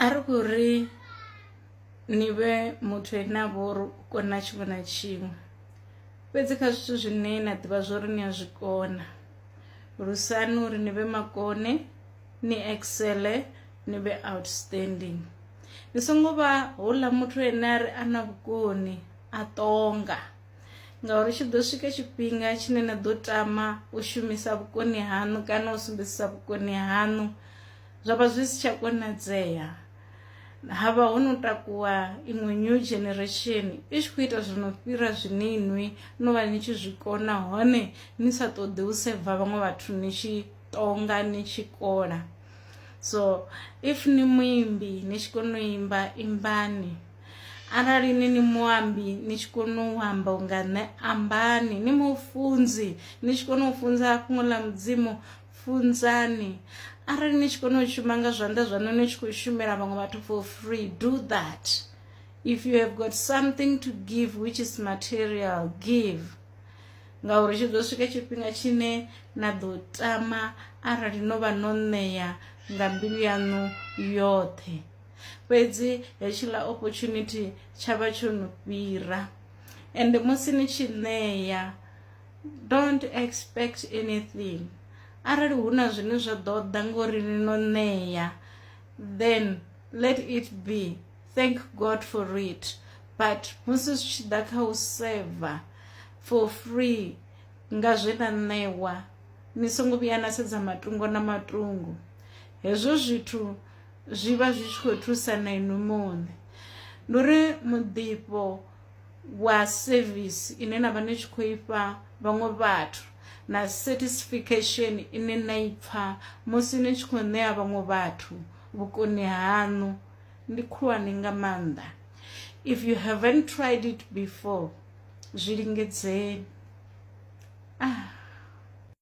A ri khou ri ni vhe muthu ane a vha uri u kona tshiṅwe na tshiṅwe fhedzi kha zwithu zwine na ḓivha zwo ri ni a zwi kona lusani uri ni vhe makone ni excele ni vhe outstanding ni songo vha houḽa muthu ane a ri a na vhukoni a ṱonga ngauri tshi ḓo swika tshifhinga tshine na ḓo tama u shumisa vhukoni haṋu kana u sumbedzisa vhukoni haṋu zwa vha zwi si tsha konadzea ha vha ho no takuwa iṅwe new generation i tshi khou ita zwi no fhira zwine inwi no vha ni tshi zwi kona hone ni sa ṱoḓi u seva vhaṅwe vhathu ni tshi tonga ni tshi kola so if ni muimbi ni tshi kona u imba imbani arali ni ni muambi ni tshi kona u amba unga nṋe ambani ni mufunzi ni tshi kona u funza fhungo ḽa mudzimu funzani arali ni tshi kona u shuma nga zwanḓa zwaṋu ni tshi khou shumela vhaṅwe vhathu for free do that if you have got something to give which is material give ngauri tshi ḓo swika tshifhinga tshine na ḓo tama arali no vha no ṋea nga mbilu yaṋu yoṱhe fhedzi hetshiḽa opportunity tsha vha tsho no fhira ende musi ni tshi ṋea don't expect anything arali hu na zwine zwa ḓo ḓa ngori ni no ṋea then let it be thank god for it but musi zwi tshi ḓa kha u seva for free nga zwe na ṋewa ni songo vhuya na sedza matungo na matungo hezwo zwithu zwi vha zwi tshi khou thusa na inwi muṋe ndi uri muḓifho wa service ine na vha ni tshi khou ifha vhaṅwe vhathu na satisfaction ine na i pfha musi ni tshi khou ṋea vhaṅwe vhathu vhukoni haṋu ndi khulwane nga maanḓa if you haven't tried it before zwi lingedzeni ah